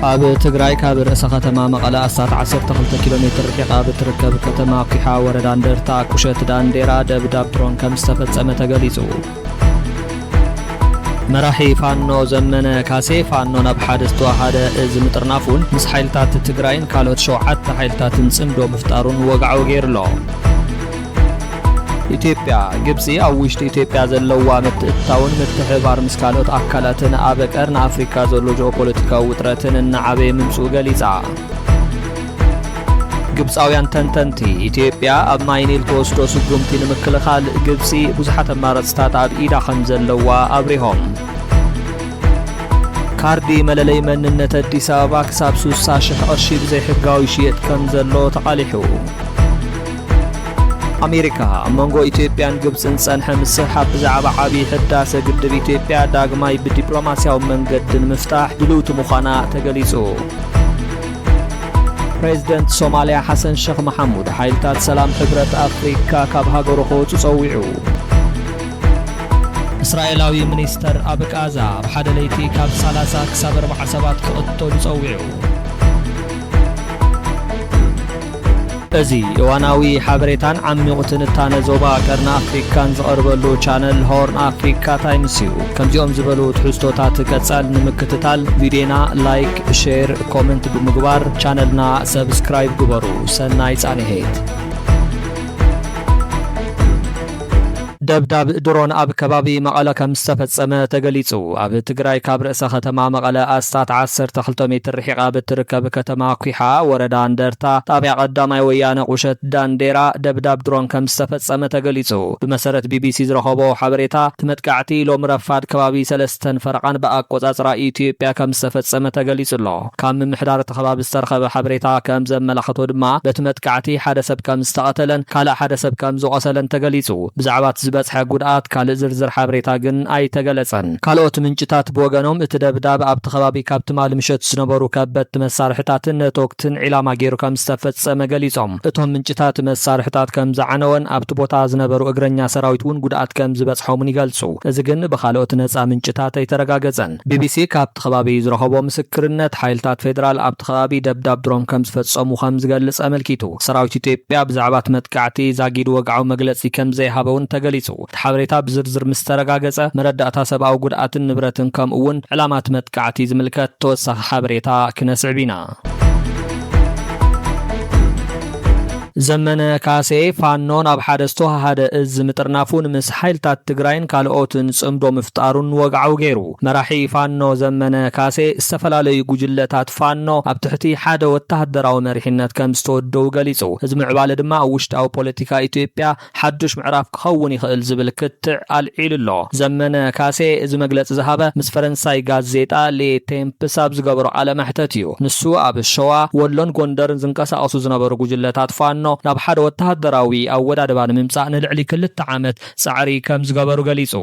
ኣብ ትግራይ ካብ ርእሰ ከተማ መቐለ ኣስታት 12 ኪሎ ሜትር ርሒቓ ብትርከብ ከተማ ኩሓ ወረዳ እንደርታ ቁሸት ዳንዴራ ደብዳብ ድሮን ከም ዝተፈጸመ ተገሊጹ። መራሒ ፋኖ ዘመነ ካሴ ፋኖ ናብ ሓደ ዝተዋሃደ እዚ ምጥርናፉን ምስ ሓይልታት ትግራይን ካልኦት ሸውዓተ ሓይልታትን ጽምዶ ምፍጣሩን ወግዓዊ ገይሩሎ። ኢትዮጵያ ግብፂ ኣብ ውሽጢ ኢትዮጵያ ዘለዋ ምትእትታውን ምትሕብባር ምስ ካልኦት ኣካላትን ኣብ ቀርኒ ኣፍሪካ ዘሎ ጂኦፖለቲካዊ ውጥረትን እናዓበየ ምምፅኡ ገሊፃ። ግብጻውያን ተንተንቲ፣ ኢትዮጵያ ኣብ ማይ ኒል ትወስዶ ስጉምቲ ንምክልኻል፣ ግብጺ ብዙሓት ኣማረጽታት ኣብ ኢዳ ከምዘለዋ ኣብሪሆም። ካርዲ መለለይ መንነት ኣዲስ ኣበባ ክሳብ ስሳ ሽሕ ቅርሺ ብዘይሕጋዊ ይሽየጥ ከምዘሎ ተቓሊሑ። ኣሜሪካ ኣብ መንጎ ኢትዮጵያን ግብፅን ፀንሐ ምስሕሓብ ብዛዕባ ዓብዪ ሕዳሰ ግድብ ኢትዮጵያ ዳግማይ ብዲፕሎማስያዊ መንገዲ ንምፍታሕ ድልውቲ ምዃና ተገሊፁ። ፕሬዚደንት ሶማልያ ሓሰን ሸኽ መሓሙድ ሓይልታት ሰላም ሕብረት ኣፍሪካ ካብ ሃገሩ ክወፁ ፀዊዑ። እስራኤላዊ ሚኒስተር ኣብ ቃዛ ኣብ ሓደ ለይቲ ካብ 30 ክሳብ 40 ሰባት ክቕተሉ ፀዊዑ። እዚ እዋናዊ ሓበሬታን ዓሚቝ ትንታነ ዞባ ቀርኒ ኣፍሪካን ዝቐርበሉ ቻነል ሆርን ኣፍሪካ ታይምስ እዩ። ከምዚኦም ዝበሉ ትሕዝቶታት ቀጻል ንምክትታል ቪድዮና ላይክ፣ ሼር፣ ኮመንት ብምግባር ቻነልና ሰብስክራይብ ግበሩ። ሰናይ ጻንሔት! ደብዳብ ድሮን ኣብ ከባቢ መቐለ ከምዝተፈፀመ ተገሊፁ። ኣብ ትግራይ ካብ ርእሰ ከተማ መቐለ ኣስታት ዓሰርተ ክልተ ሜትር ርሒቓ ኣብ እትርከብ ከተማ ኲሓ ወረዳ እንደርታ ጣብያ ቀዳማይ ወያነ ቁሸት ዳንዴራ ደብዳብ ድሮን ከምዝተፈፀመ ተገሊፁ። ብመሰረት ቢቢሲ ዝረኸቦ ሓበሬታ እቲ መጥቃዕቲ ሎሚ ረፋድ ከባቢ ሰለስተን ፈረቓን ብኣቆፃፅራ ኢትዮጵያ ከምዝተፈፀመ ተገሊፁ'ሎ። ካብ ምምሕዳር እቲ ከባቢ ዝተረኸበ ሓበሬታ ከም ዘመላኸቶ ድማ በቲ መጥቃዕቲ ሓደ ሰብ ከም ዝተቐተለን ካልእ ሓደ ሰብ ከም ዝቖሰለን ተገሊፁ። ብዛዕባ እቲ ዝበፅሐ ጉድኣት ካልእ ዝርዝር ሓበሬታ ግን ኣይተገለፀን። ካልኦት ምንጭታት ብወገኖም እቲ ደብዳብ ኣብቲ ከባቢ ካብ ትማሊ ምሸት ዝነበሩ ከበድቲ መሳርሕታትን ቶክትን ዒላማ ገይሩ ከም ዝተፈፀመ ገሊፆም። እቶም ምንጭታት መሳርሕታት ከም ዝዓነወን ኣብቲ ቦታ ዝነበሩ እግረኛ ሰራዊት እውን ጉድኣት ከም ዝበፅሖምን ይገልፁ። እዚ ግን ብኻልኦት ነፃ ምንጭታት ኣይተረጋገፀን። ቢቢሲ ካብ። እቲ ከባቢ ዝረኸቦ ምስክርነት፣ ሓይልታት ፌደራል ኣብቲ ከባቢ ደብዳብ ድሮን ከምዝፈጸሙ ከምዝገልጽ ኣመልኪቱ። ሰራዊት ኢትዮጵያ ብዛዕባ እቲ መጥቃዕቲ ዛጊድ ወግዓዊ መግለጺ ከምዘይሃበ'ውን ተገሊጹ። እቲ ሓበሬታ ብዝርዝር ምስተረጋገጸ፣ መረዳእታ ሰብኣዊ ጉድኣትን ንብረትን ከምኡ'ውን ዕላማ እቲ መጥቃዕቲ ዝምልከት ተወሳኺ ሓበሬታ ክነስዕብ ኢና። ዘመነ ካሴ፣ ፋኖ ናብ ሓደ ዝተወሃሃደ እዝ ምጥርናፉን ምስ ሓይልታት ትግራይን ካልኦትን ጽምዶ ምፍጣሩን ወግዓዊ ገይሩ። መራሒ ፋኖ ዘመነ ካሴ፣ ዝተፈላለዩ ጉጅለታት ፋኖ ኣብ ትሕቲ ሓደ ወተሃደራዊ መሪሕነት ከምዝተወደቡ ገሊጹ። እዚ ምዕባለ ድማ ኣብ ውሽጣዊ ፖለቲካ ኢትዮጵያ ሓዱሽ ምዕራፍ ክኸውን ይኽእል ዝብል ክትዕ ኣልዒሉ'ሎ። ዘመነ ካሴ እዚ መግለጺ ዝሃበ ምስ ፈረንሳይ ጋዜጣ ሌ ቴምፕስ ኣብ ዝገበሮ ቃለ መሕተት እዩ። ንሱ ኣብ ሸዋ፣ ወሎን ጎንደርን ዝንቀሳቐሱ ዝነበሩ ጉጅለታት ፋኖ ናብ ሓደ ወተሃደራዊ ኣወዳድባ ንምምጻእ ንልዕሊ ክልተ ዓመት ጻዕሪ ከምዝገበሩ ገሊጹ።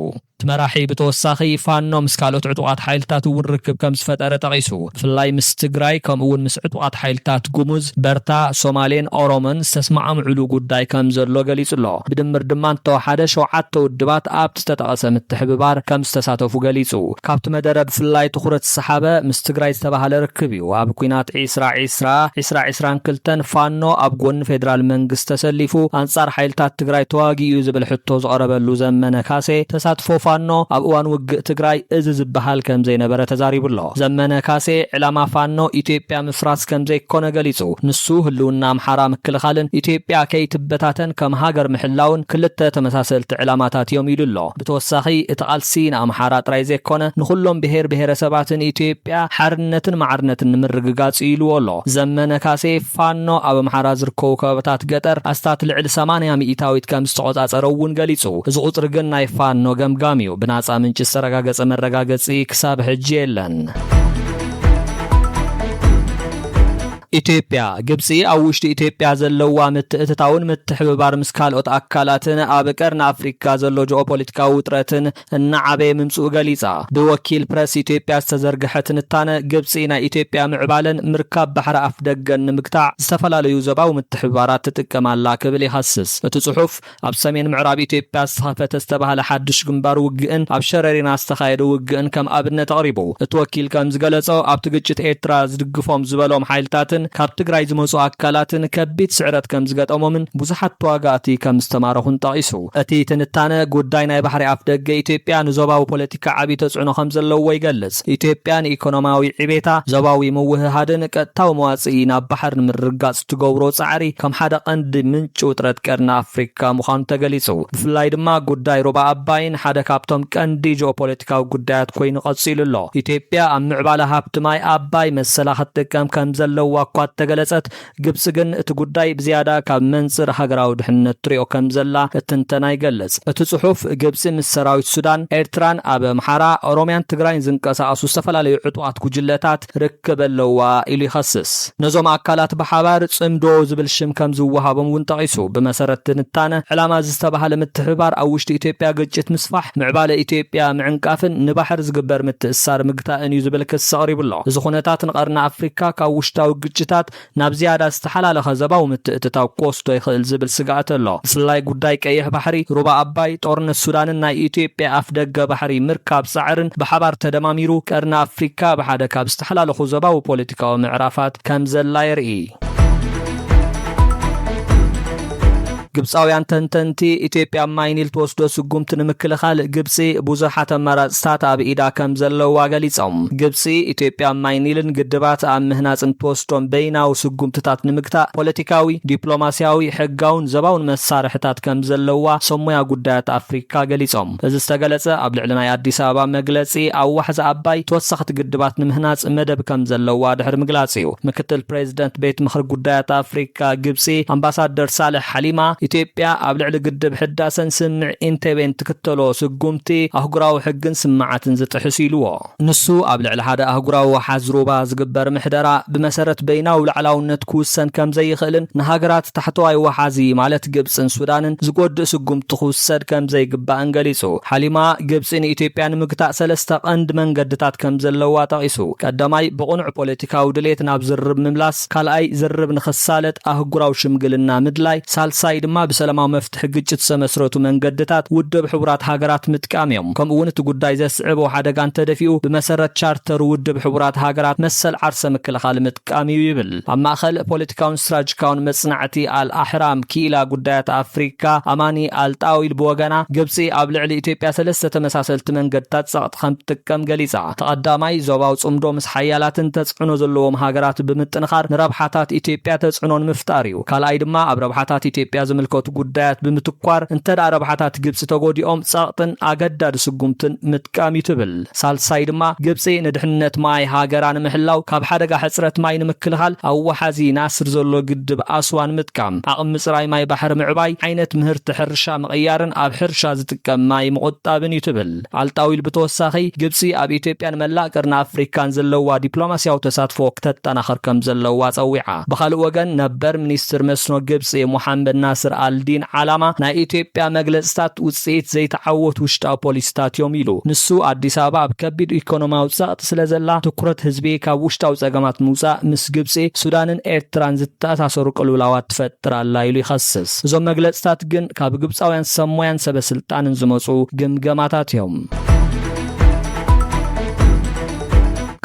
እቲ መራሒ ብተወሳኺ፣ ፋኖ ምስ ካልኦት ዕጡቓት ሓይልታት እውን ርክብ ከም ዝፈጠረ ጠቒሱ። ብፍላይ ምስ ትግራይ ከምኡ እውን ምስ ዕጡቓት ሓይልታት ጉሙዝ፣ በርታ፣ ሶማሌን ኦሮሞን ዝተስማዕምዑሉ ጉዳይ ከም ዘሎ ገሊፁ ኣሎ። ብድምር ድማ እንተወሓደ ሸውዓተ ውድባት ኣብቲ ዝተጠቐሰ ምትሕብባር ከም ዝተሳተፉ ገሊፁ። ካብቲ መደረ ብፍላይ ትኹረት ዝሰሓበ ምስ ትግራይ ዝተበሃለ ርክብ እዩ። እዩ ኣብ ኲናት ዒስራ ዒስራ፣ ዒስራ ዒስራን ክልተን፣ ፋኖ ኣብ ጎኒ ፌደራል መንግስቲ ተሰሊፉ ኣንጻር ሓይልታት ትግራይ ተዋጊኡ እዩ ዝብል ሕቶ ዝቐረበሉ ዘመነ ካሴ፣ ተሳትፎ ፋኖ ኣብ እዋን ውግእ ትግራይ እዚ ዝበሃል ከምዘይነበረ ተዛሪቡ ኣሎ። ዘመነ ካሴ ዕላማ ፋኖ ኢትዮጵያ ምፍራስ ከምዘይኮነ ገሊጹ። ንሱ ህልውና ኣምሓራ ምክልኻልን ኢትዮጵያ ከይትበታተን ከም ሃገር ምሕላውን ክልተ ተመሳሰልቲ ዕላማታት እዮም ኢሉ ኣሎ። ብተወሳኺ እቲ ቃልሲ ንኣምሓራ ጥራይ ዘይኮነ ንኹሎም ብሄር ብሄረሰባትን ኢትዮጵያ ሓርነትን ማዕርነትን ንምርግጋፅ እዩ ኢሉዎ ኣሎ ዘመነ ካሴ። ፋኖ ኣብ ኣምሓራ ዝርከቡ ከባብታት ገጠር ኣስታት ልዕሊ ሰማንያ ሚኢታዊት ከምዝተቖፃፀረ እውን ገሊፁ። እዚ ቁፅሪ ግን ናይ ፋኖ ገምጋም እዩ፣ ብናፃ ምንጪ ዝተረጋገፀ መረጋገፂ ክሳብ ሕጂ የለን። ኢትዮጵያ፣ ግብፂ ኣብ ውሽጢ ኢትዮጵያ ዘለዋ ምትእትታውን ምትሕብባር ምስ ካልኦት ኣካላትን ኣብ ቀርኒ ኣፍሪካ ዘሎ ጂኦፖለቲካዊ ውጥረትን እናዓበየ ምምፅኡ ገሊፃ። ብወኪል ፕረስ ኢትዮጵያ ዝተዘርገሐ ትንታነ፣ ግብፂ ናይ ኢትዮጵያ ምዕባለን ምርካብ ባሕሪ ኣፍደገን ንምግታዕ ዝተፈላለዩ ዞባዊ ምትሕብባራት ትጥቀም ኣላ ክብል ይኸስስ እቲ ፅሑፍ። ኣብ ሰሜን ምዕራብ ኢትዮጵያ ዝተኸፈተ ዝተባህለ ሓድሽ ግንባር ውግእን ኣብ ሸረሪና ዝተኻየደ ውግእን ከም ኣብነት ኣቕሪቡ። እቲ ወኪል ከም ዝገለጾ፣ ኣብቲ ግጭት ኤርትራ ዝድግፎም ዝበሎም ሓይልታትን ካብ ትግራይ ዝመጹ ኣካላትን ከቢድ ስዕረት ከም ዝገጠሞምን ብዙሓት ተዋጋእቲ ከም ዝተማረኹን ጠቒሱ። እቲ ትንታነ፣ ጉዳይ ናይ ባሕሪ ኣፍደገ ኢትዮጵያ ንዞባዊ ፖለቲካ ዓቢ ተጽዕኖ ከም ዘለዎ ይገልጽ። ኢትዮጵያ ንኢኮኖሚያዊ ዕቤታ፣ ዞባዊ ምውህሃድን ቀጥታዊ መዋጽኢ ናብ ባሕር ንምርግጋጽ፣ ትገብሮ ጻዕሪ ከም ሓደ ቀንዲ ምንጪ ውጥረት ቀርኒ ኣፍሪካ ምዃኑ ተገሊጹ። ብፍላይ ድማ ጉዳይ ሩባ ኣባይን ሓደ ካብቶም ቀንዲ ጂኦፖለቲካዊ ጉዳያት ኮይኑ ቀጺሉ ኣሎ። ኢትዮጵያ ኣብ ምዕባለ ሃብቲ ማይ ኣባይ መሰላ ክትጥቀም ከም ዘለዋ እኳ እተገለጸት፣ ግብጺ ግን እቲ ጉዳይ ብዝያዳ ካብ መንጽር ሃገራዊ ድሕነት ትሪኦ ከም ዘላ እቲ ትንተና ይገልጽ። እቲ ጽሑፍ፣ ግብጺ ምስ ሰራዊት ሱዳን፣ ኤርትራን ኣብ ኣምሓራ፣ ኦሮምያን ትግራይን ዝንቀሳቐሱ ዝተፈላለዩ ዕጡቓት ጉጅለታት ርክብ ክበለዋ ኢሉ ይኸስስ። ነዞም ኣካላት ብሓባር ጽምዶ ዝብል ሽም ከም ዝወሃቦም እውን ጠቒሱ። ብመሰረት ትንታነ ዕላማ እዚ ዝተባህለ ምትሕብባር ኣብ ውሽጢ ኢትዮጵያ ግጭት ምስፋሕ፣ ምዕባለ ኢትዮጵያ ምዕንቃፍን ንባሕሪ ዝግበር ምትእስሳር ምግታእን እዩ ዝብል ክሲ ኣቕሪቡ ኣሎ። እዚ ኩነታት ንቀርኒ ኣፍሪካ ካብ ውሽጣዊ ግጭታት፣ ናብ ዝያዳ ዝተሓላለኸ ዘባዊ ምትእትታው ክወስዶ ይኽእል ዝብል ስግኣት ኣሎ። ብፍላይ ጉዳይ ቀይሕ ባሕሪ፣ ሩባ ኣባይ፣ ጦርነት ሱዳንን ናይ ኢትዮጵያ ኣፍደገ ባሕሪ ምርካብ ጻዕርን ብሓባር ተደማሚሩ፣ ቀርኒ ኣፍሪካ ኣብ ሓደ ካብ ዝተሓላለኹ ዘባዊ ፖለቲካዊ ምዕራፋት ከምዘላ የርእይ። ግብጻውያን ተንተንቲ፣ ኢትዮጵያ ኣብ ማይ ኒል ትወስዶ ስጉምቲ ንምክልኻል፣ ግብጺ ብዙሓት ኣማራጽታት ኣብ ኢዳ ከም ዘለዋ ገሊጾም። ግብጺ፣ ኢትዮጵያ ኣብ ማይ ኒልን ግድባት ኣብ ምህናጽን እትወስዶም በይናዊ ስጉምትታት ንምግታእ፣ ፖለቲካዊ፣ ዲፕሎማስያዊ፣ ሕጋውን ዘባውን መሳርሒታት ከም ዘለዋ ሰብ ሞያ ጉዳያት ኣፍሪካ ገሊጾም። እዚ ዝተገለፀ ኣብ ልዕሊ ናይ ኣዲስ ኣበባ መግለፂ ኣብ ዋሕዚ ኣባይ ተወሰኽቲ ግድባት ንምህናፅ መደብ ከምዘለዋ ድሕሪ ምግላፅ እዩ። ምክትል ፕሬዚደንት ቤት ምኽሪ ጉዳያት ኣፍሪካ ግብፂ ኣምባሳደር ሳልሕ ሓሊማ ኢትዮጵያ ኣብ ልዕሊ ግድብ ሕዳሰን ስምምዕ ኢንቴቤን ትክተሎ ስጉምቲ ኣህጉራዊ ሕግን ስምምዓትን ዝጥሕስ ኢሉዎ። ንሱ ኣብ ልዕሊ ሓደ ኣህጉራዊ ወሓዝ ሩባ ዝግበር ምሕደራ ብመሰረት በይናዊ ላዕላውነት ክውሰን ከም ዘይኽእልን ንሃገራት ታሕተዋይ ወሓዚ ማለት ግብጽን ሱዳንን ዝጎድእ ስጉምቲ ክውሰድ ከም ዘይግባእን ገሊጹ። ሓሊማ፣ ግብጺ ንኢትዮጵያ ንምግታእ ሰለስተ ቀንዲ መንገድታት ከም ዘለዋ ጠቒሱ። ቀዳማይ፣ ብቕኑዕ ፖለቲካዊ ድሌት ናብ ዝርርብ ምምላስ፣ ካልኣይ፣ ዝርርብ ንኽሳለጥ ኣህጉራዊ ሽምግልና ምድላይ፣ ሳልሳይ ድማ ብሰላማዊ ንመፍትሒ ግጭት ዝተመስረቱ መንገድታት ውድብ ሕቡራት ሃገራት ምጥቃም እዮም። ከምኡ እውን እቲ ጉዳይ ዘስዕቦ ሓደጋ እንተደፊኡ ብመሰረት ቻርተር ውድብ ሕቡራት ሃገራት መሰል ዓርሰ ምክልኻል ምጥቃም እዩ ይብል። ኣብ ማእኸል ፖለቲካውን ስትራጅካውን መፅናዕቲ ኣል ኣሕራም ክኢላ ጉዳያት ኣፍሪካ ኣማኒ ኣል ጣዊል ብወገና ግብፂ ኣብ ልዕሊ ኢትዮጵያ ሰለስተ ተመሳሰልቲ መንገድታት ፀቕጢ ከምትጥቀም ገሊፃ። እቲ ቀዳማይ ዞባዊ ፅምዶ ምስ ሓያላትን ተፅዕኖ ዘለዎም ሃገራት ብምጥንኻር ንረብሓታት ኢትዮጵያ ተፅዕኖ ንምፍጣር እዩ። ካልኣይ ድማ ኣብ ረብሓታት ኢትዮጵያ ዝምልከቱ ጉዳያት ብምትኳር እንተድኣ ረብሓታት ግብፂ ተጎዲኦም ፀቕጥን ኣገዳዲ ስጉምትን ምጥቃም እዩ ትብል። ሳልሳይ ድማ ግብፂ ንድሕንነት ማይ ሃገራ ንምሕላው ካብ ሓደጋ ሕፅረት ማይ ንምክልኻል ኣብ ወሓዚ ናስር ዘሎ ግድብ ኣስዋን ምጥቃም፣ ዓቕሚ ምፅራይ ማይ ባሕሪ ምዕባይ፣ ዓይነት ምህርቲ ሕርሻ ምቕያርን ኣብ ሕርሻ ዝጥቀም ማይ ምቑጣብን እዩ ትብል። ኣልጣዊል ብተወሳኺ፣ ግብጺ ኣብ ኢትዮጵያን መላእ ቀርኒ ኣፍሪካን ዘለዋ ዲፕሎማሲያዊ ተሳትፎ ክተጠናኽር ከምዘለዋ ጸዊዓ። ብኻልእ ወገን ነበር ሚኒስትር መስኖ ግብጺ ሞሓመድ ናስር ኣል ዲን ዓላማ ናይ ኢትዮጵያ መግለጽታት ውጽኢት ዘይተዓወቱ ውሽጣዊ ፖሊሲታት እዮም ኢሉ። ንሱ፣ ኣዲስ ኣበባ ኣብ ከቢድ ኢኮኖሚያዊ ጸቕጢ ስለዘላ ትኩረት ህዝቢ ካብ ውሽጣዊ ጸገማት ምውጻእ ምስ ግብጺ፣ ሱዳንን ኤርትራን ዝተኣሳሰሩ ቅልውላዋት ትፈጥር ኣላ ኢሉ ይኸስስ። እዞም መግለጽታት ግን፣ ካብ ግብፃውያን ሰብ ሞያን ሰበ ስልጣንን ዝመፁ ግምገማታት እዮም።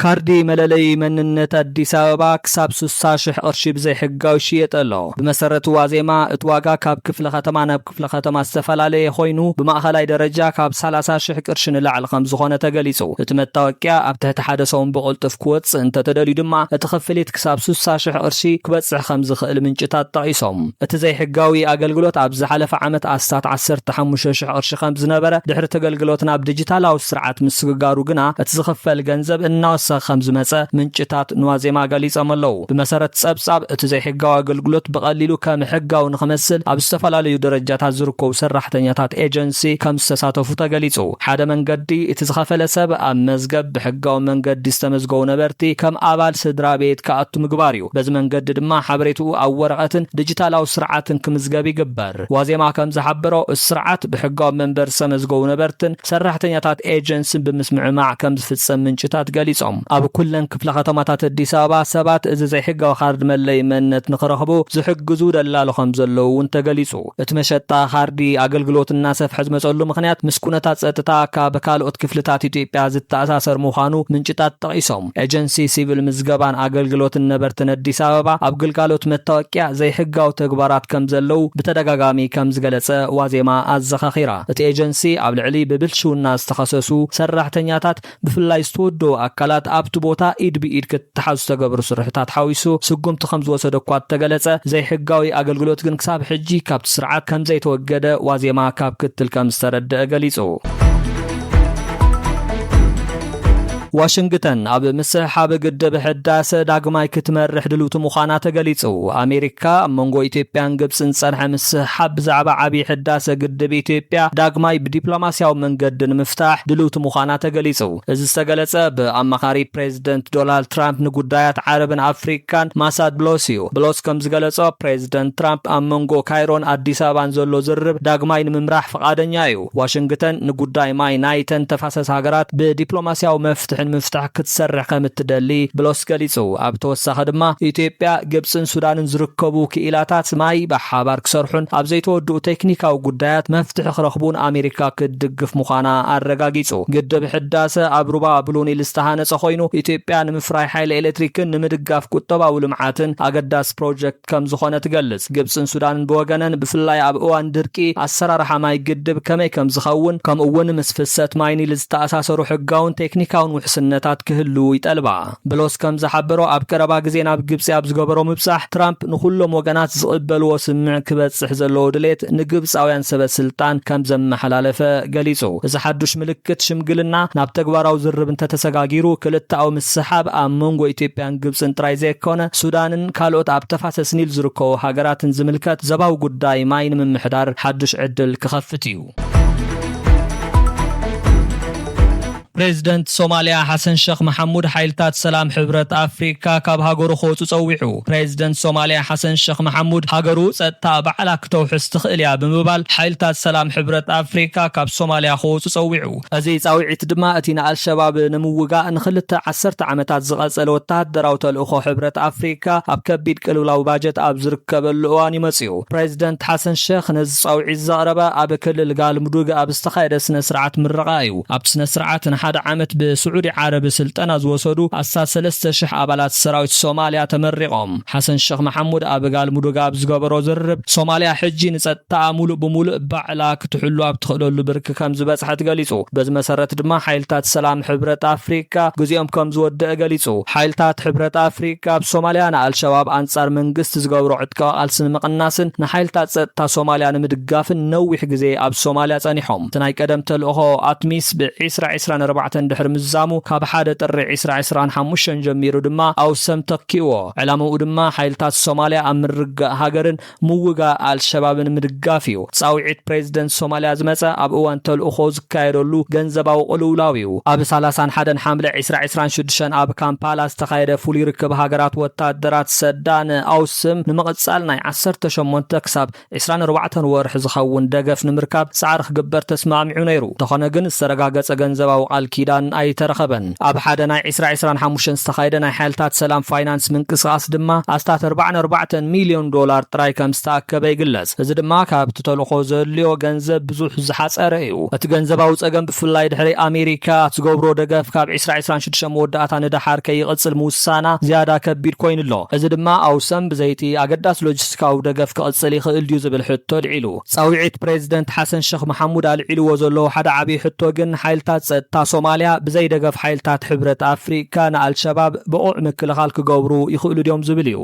ካርዲ መለለይ መንነት ኣዲስ ኣበባ ክሳብ 60 ሽሕ ቅርሺ ብዘይሕጋዊ ይሽየጥ ኣሎ። ብመሰረት ዋዜማ እቲ ዋጋ ካብ ክፍለ ከተማ ናብ ክፍለ ከተማ ዝተፈላለየ ኮይኑ ብማእኸላይ ደረጃ ካብ 30 ሽሕ ቅርሺ ንላዕሊ ከምዝኾነ ተገሊፁ። እቲ መታወቂያ ኣብ ትሕቲ ሓደ ሰሙን ብቕልጡፍ ክወፅእ እንተተደልዩ ድማ እቲ ክፍሊት ክሳብ 60 ሽሕ ቅርሺ ክበፅሕ ከምዝኽእል ምንጭታት ጠቒሶም። እቲ ዘይሕጋዊ ኣገልግሎት ኣብ ዝሓለፈ ዓመት ኣስታት ዓሰርተ ሓሙሽተ ሽሕ ቅርሺ ከም ዝነበረ፣ ድሕሪ እቲ ኣገልግሎት ናብ ዲጂታላዊ ስርዓት ምስግጋሩ ግና እቲ ዝኽፈል ገንዘብ እናወሰኸ ከም ዝመጸ ምንጭታት ንዋዜማ ገሊጾም ኣለዉ። ብመሰረት ጸብጻብ፣ እቲ ዘይሕጋዊ ኣገልግሎት ብቐሊሉ ከም ሕጋዊ ንኽመስል ኣብ ዝተፈላለዩ ደረጃታት ዝርከቡ ሰራሕተኛታት ኤጀንሲ ከም ዝተሳተፉ ተገሊጹ። ሓደ መንገዲ፣ እቲ ዝኸፈለ ሰብ ኣብ መዝገብ ብሕጋዊ መንገዲ ዝተመዝገቡ ነበርቲ ከም ኣባል ስድራቤት ክኣቱ ምግባር እዩ። በዚ መንገዲ ድማ ሓበሬትኡ ኣብ ወረቐትን ድጅታላዊ ስርዓትን ክምዝገብ ይግበር። ዋዜማ ከም ዝሓበሮ፣ እቲ ስርዓት ብሕጋዊ መንበሪ ዝተመዝገቡ ነበርትን ሰራሕተኛታት ኤጀንሲን ብምስምዕማዕ ከም ዝፍፀም ምንጭታት ገሊፆም። ኣብ ኩለን ክፍለ ከተማታት ኣዲስ ኣበባ ሰባት እዚ ዘይሕጋዊ ካርዲ መለለዪ መንነት ንክረኽቡ ዝሕግዙ ደላሎ ከም ዘለዉ እውን ተገሊፁ። እቲ መሸጣ ካርዲ ኣገልግሎት እናሰፍሐ ዝመፀሉ ምኽንያት ምስ ኩነታት ፀጥታ ካብ ካልኦት ክፍልታት ኢትዮጵያ ዝተኣሳሰር ምዃኑ ምንጭታት ጠቒሶም። ኤጀንሲ ሲቪል ምዝገባን ኣገልግሎትን ነበርትን ኣዲስ ኣበባ ኣብ ግልጋሎት መታወቂያ ዘይሕጋዊ ተግባራት ከምዘለዉ ብተደጋጋሚ ከምዝገለፀ ዋዜማ ኣዘኻኺራ። እቲ ኤጀንሲ ኣብ ልዕሊ ብብልሽውና ዝተኸሰሱ ሰራሕተኛታት ብፍላይ ዝተወደቡ ኣካላት ኣብቲ ቦታ ኢድ ብኢድ ክተሓዙ ዝተገብሩ ስርሒታት ሓዊሱ ስጉምቲ ከምዝወሰደ እኳ እተገለፀ ዘይሕጋዊ ኣገልግሎት ግን ክሳብ ሕጂ ካብቲ ስርዓት ከምዘይተወገደ ዋዜማ ካብ ክትል ከምዝተረደኣ ገሊፁ። ዋሽንግተን ኣብ ምስሕሓብ ግድብ ሕዳሰ ዳግማይ ክትመርሕ ድልውቲ ምዃና ተገሊጹ። ኣሜሪካ ኣብ መንጎ ኢትዮጵያን ግብጽን ዝጸንሐ ምስሕሓብ ብዛዕባ ዓብዪ ሕዳሰ ግድብ ኢትዮጵያ ዳግማይ ብዲፕሎማስያዊ መንገዲ ንምፍታሕ ድልውቲ ምዃና ተገሊጹ። እዚ ዝተገለጸ ብኣማኻሪ ፕሬዝደንት ዶናልድ ትራምፕ ንጉዳያት ዓረብን ኣፍሪቃን ማሳድ ብሎስ'ዩ። ብሎስ ከምዝገለጾ ፕሬዝደንት ትራምፕ ኣብ መንጎ ካይሮን ኣዲስ ኣበባን ዘሎ ዝርርብ ዳግማይ ንምምራሕ ፍቓደኛ'ዩ። ዋሽንግተን ንጉዳይ ማይ ናይተን ተፋሰስ ሃገራት ብዲፕሎማስያዊ መፍትሒ ንምፍታሕ ክትሰርሕ ከም እትደሊ ብሎስ ገሊጹ። ኣብ ተወሳኺ ድማ ኢትዮጵያ፣ ግብጽን ሱዳንን ዝርከቡ ክኢላታት ማይ ብሓባር ክሰርሑን ኣብ ዘይተወድኡ ቴክኒካዊ ጉዳያት መፍትሒ ክረኽቡን ኣሜሪካ ክትድግፍ ምዃና ኣረጋጊጹ። ግድብ ሕዳሰ ኣብ ሩባ ብሉ ኒል ዝተሃነጸ ኮይኑ ኢትዮጵያ ንምፍራይ ሓይሊ ኤሌክትሪክን ንምድጋፍ ቁጠባዊ ልምዓትን ኣገዳሲ ፕሮጀክት ከም ዝኾነ ትገልጽ። ግብጽን ሱዳንን ብወገነን ብፍላይ ኣብ እዋን ድርቂ ኣሰራርሓ ማይ ግድብ ከመይ ከም ዝኸውን ከምኡ'ውን ምስ ፍሰት ማይ ኒል ዝተኣሳሰሩ ሕጋውን ቴክኒካውን ውሕስነታት ክህልዉ ይጠልባ። ብሎስ ከም ዝሓበሮ ኣብ ቀረባ ግዜ ናብ ግብጺ ኣብ ዝገበሮ ምብጻሕ ትራምፕ ንኹሎም ወገናት ዝቕበልዎ ስምምዕ ክበጽሕ ዘለዎ ድሌት ንግብጻውያን ሰበ ስልጣን ከም ዘመሓላለፈ ገሊጹ። እዚ ሓዱሽ ምልክት ሽምግልና ናብ ተግባራዊ ዝርርብ እንተተሰጋጊሩ ክልተኣዊ ምስሕሓብ ኣብ መንጎ ኢትዮጵያን ግብጽን ጥራይ ዘይኮነ ሱዳንን ካልኦት ኣብ ተፋሰስ ኒል ዝርከቡ ሃገራትን ዝምልከት ዘባዊ ጉዳይ ማይ ንምምሕዳር ሓዱሽ ዕድል ክኸፍት እዩ። ፕሬዝደንት ሶማልያ ሓሰን ሸኽ መሓሙድ ሓይልታት ሰላም ሕብረት ኣፍሪካ ካብ ሃገሩ ክወፁ ፀዊዑ። ፕሬዝደንት ሶማልያ ሓሰን ሸኽ መሓሙድ ሃገሩ ፀጥታኣ ባዕላ ክተውሕስ ትኽእል እያ ብምባል ሓይልታት ሰላም ሕብረት ኣፍሪካ ካብ ሶማልያ ክወፁ ፀዊዑ። እዚ ጻውዒት ድማ እቲ ንኣልሸባብ ንምውጋእ ንኽልተ ዓሰርተ ዓመታት ዝቐጸለ ወተሃደራዊ ተልእኾ ሕብረት ኣፍሪካ ኣብ ከቢድ ቅልውላው ባጀት ኣብ ዝርከበሉ እዋን'ዩ መጺኡ። ፕረዚደንት ሓሰን ሸኽ ነዚ ጻውዒት ዘቕረበ ኣብ ክልል ጋልሙዱግ ኣብ ዝተኻየደ ስነ-ስርዓት ምረቓ እዩ። ኣብቲ ስነ-ስርዓት ንሓደ ዓመት ብስዑዲ ዓረብ ስልጠና ዝወሰዱ ኣስታት ሰለስተ ሽሕ ኣባላት ሰራዊት ሶማልያ ተመሪቖም። ሓሰን ሸኽ መሓሙድ ኣብ ጋልሙዱግ ኣብ ዝገበሮ ዝርርብ፣ ሶማልያ ሕጂ ንጸጥታኣ ሙሉእ ብሙሉእ ባዕላ ክትሕሉ ኣብ ትኽእለሉ ብርኪ ከም ዝበፅሐት ገሊፁ። በዚ መሰረት ድማ ሓይልታት ሰላም ሕብረት ኣፍሪካ ግዚኦም ከም ዝወደእ ገሊፁ። ሓይልታት ሕብረት ኣፍሪካ ኣብ ሶማሊያ ንኣልሸባብ ኣንፃር መንግስቲ ዝገብሮ ዕጥቃዊ ቃልሲ ንምቕናስን ንሓይልታት ፀጥታ ሶማሊያ ንምድጋፍን ነዊሕ ግዜ ኣብ ሶማሊያ ፀኒሖም። እቲ ናይ ቀደም ተልእኾ ኣትሚስ ብ ዕስራ ዕስራን ኣርባዕተን ድሕሪ ምዛሙ ካብ ሓደ ጥሪ ዕስራ ዕስራን ሓሙሽተን ጀሚሩ ድማ ኣውሰም ተኪኡዎ። ዕላምኡ ድማ ሓይልታት ሶማሊያ ኣብ ምርግጋእ ሃገርን ምውጋእ ኣልሸባብን ምድጋፍ እዩ። ጻውዒት ፕሬዚደንት ሶማሊያ ዝመጸ ኣብ እዋን ተልእኾ ዝካየደሉ ገንዘባዊ ቅልውላው እዩ። ኣብ ሰላሳን ሓደን ሓምለ ዕስራ ዕስራን ሽዱሽተን ኣብ ካምፓላ ዝተኻየደ ፍሉይ ርክብ ሃገራት ወታደራት ሰዳ ን ኣውስም ንምቕጻል ናይ ዓሰርተ ሸሞንተ ክሳብ ዕስራን ኣርባዕተን ወርሒ ዝኸውን ደገፍ ንምርካብ ጻዕሪ ክግበር ተስማዕሚዑ ነይሩ። እንተኾነ ግን ዝተረጋገጸ ገንዘባዊ ቃል ኪዳን ኣይተረኸበን። ኣብ ሓደ ናይ ዕስራ ዕስራን ሓሙሽተን ዝተኻየደ ናይ ሓይልታት ሰላም ፋይናንስ ምንቅስቓስ ድማ ኣስታት ኣርባዓን ኣርባዕተን ሚልዮን ዶላር ጥራይ ከም ዝተኣከበ ይግለጽ። እዚ ድማ ካብቲ ተልእኾ ዘድልዮ ገንዘብ ብዙሕ ዝሓጸረ እዩ። እቲ ገንዘባዊ ጸገም ብፍላይ ድሕሪ ኣሜሪካ እትገብሮ ደገፍ ካብ ዕስራ ዕስራን ሽዱሽተን መወዳእታ ንደሓር ከይቕጽል ምውሳና ዝያዳ ከቢድ ኮይኑ ኣሎ። እዚ ድማ ኣውሰም ብዘይቲ ኣገዳሲ ሎጂስቲካዊ ደገፍ ክቕጽል ይኽእል ድዩ ዝብል ሕቶ ኣልዒሉ። ጻውዒት ፕሬዚደንት ሓሰን ሸኽ መሓሙድ ኣልዒልዎ ዘለዉ ሓደ ዓብዪ ሕቶ ግን ሓይልታት ፀጥታ ሶማሊያ ብዘይ ደገፍ ሓይልታት ሕብረት ኣፍሪካ ንኣልሸባብ ብቑዕ ምክልኻል ክገብሩ ይኽእሉ ድዮም ዝብል እዩ።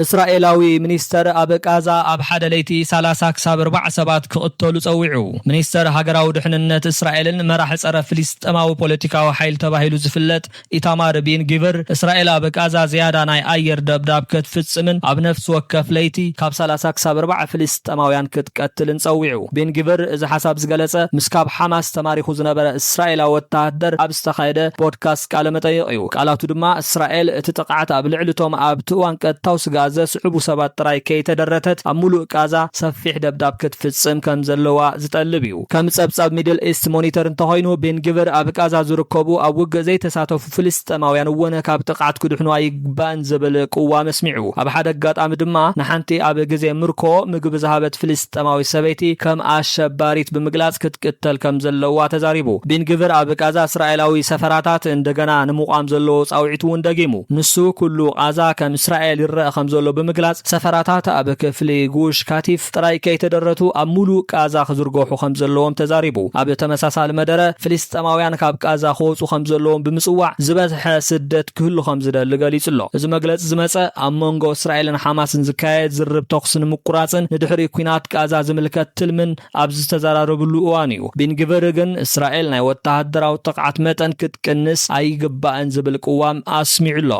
እስራኤላዊ ሚኒስተር ኣብ ቃዛ ኣብ ሓደ ለይቲ ሰላሳ ክሳብ ኣርባዓ ሰባት ክቕተሉ ጸዊዑ። ሚኒስተር ሃገራዊ ድሕንነት እስራኤልን መራሒ ጸረ ፍልስጤማዊ ፖለቲካዊ ሓይሊ ተባሂሉ ዝፍለጥ ኢታማር ቢን ጊቭር፣ እስራኤል ኣብ ቃዛ ዝያዳ ናይ ኣየር ደብዳብ ከትፍጽምን ኣብ ነፍሲ ወከፍ ለይቲ፣ ካብ ሰላሳ ክሳብ ኣርባዓ ፍልስጠማውያን ክትቀትልን ጸዊዑ። ቢን ጊቭር እዚ ሓሳብ ዝገለጸ፣ ምስ ካብ ሓማስ ተማሪኹ ዝነበረ እስራኤላዊ ወተሃደር ኣብ ዝተኻየደ ፖድካስት ቃለ መጠይቕ እዩ። ቃላቱ ድማ፣ እስራኤል እቲ ጥቕዓት ኣብ ልዕሊ እቶም ኣብቲ እዋን ቀጥታዊ ስግኣት ዘስዕቡ ሰባት ጥራይ ከይተደረተት፣ ኣብ ምሉእ ቃዛ ሰፊሕ ደብዳብ ክትፍጽም ከም ዘለዋ ዝጠልብ እዩ። ከም ጸብጻብ ሚድል ኢስት ሞኒተር እንተኾይኑ፣ ቤንግቪር ኣብ ቓዛ ዝርከቡ ኣብ ውግእ ዘይተሳተፉ ፍልስጤማውያን እውን ካብ ጥቕዓት ክድሕኑ ኣይግባእን ዝብል ቅዋም ኣስሚዑ። ኣብ ሓደ ኣጋጣሚ ድማ ንሓንቲ ኣብ ግዜ ምርኮ ምግቢ ዝሃበት ፍልስጤማዊት ሰበይቲ ከም ኣሸባሪት ብምግላጽ ክትቅተል ከም ዘለዋ ተዛሪቡ። ቤንግቪር ኣብ ቓዛ እስራኤላዊ ሰፈራታት እንደገና ንምቛም ዘለዎ ጻውዒት እውን ደጊሙ። ንሱ፣ ኩሉ ቓዛ ከም እስራኤል ይረኣ ከም ዘሎ ብምግላጽ፣ ሰፈራታት ኣብ ክፍሊ ጉሽ ካቲፍ፣ ጥራይ ከይተደረቱ ኣብ ሙሉእ ቃዛ ክዝርገሑ ከምዘለዎም ተዛሪቡ። ኣብ ተመሳሳሊ መደረ፣ ፍልስጠማውያን ካብ ቃዛ ክወጹ ከምዘለዎም ብምጽዋዕ ዝበዝሐ ስደት ክህሉ ከምዝደሊ ገሊጹ'ሎ። እዚ መግለጺ ዝመጸ፣ ኣብ መንጎ እስራኤልን ሓማስን ዝካየድ ዝርርብ ተኹሲ ንምቁራጽን ንድሕሪ ኲናት ቃዛ ዝምልከት ትልምን ኣብ ዝተዘራረብሉ እዋን'ዩ። ቢን ግቭር ግን እስራኤል ናይ ወተሃደራዊ ጥቕዓት መጠን ክትቅንስ ኣይግባእን ዝብል ቅዋም ኣስሚዑ'ሎ።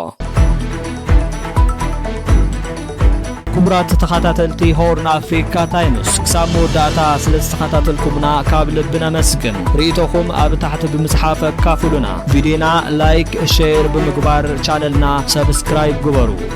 ክቡራት ተኸታተልቲ ሆርን ኣፍሪካ ታይምስ ክሳብ መወዳእታ ስለ ዝተኸታተልኩምና ካብ ልቢ ነመስግን። ርእይቶኹም ኣብ ታሕቲ ብምጽሓፍ ኣካፍሉና። ቪድዮና ላይክ፣ ሼር ብምግባር ቻነልና ሰብስክራይብ ግበሩ።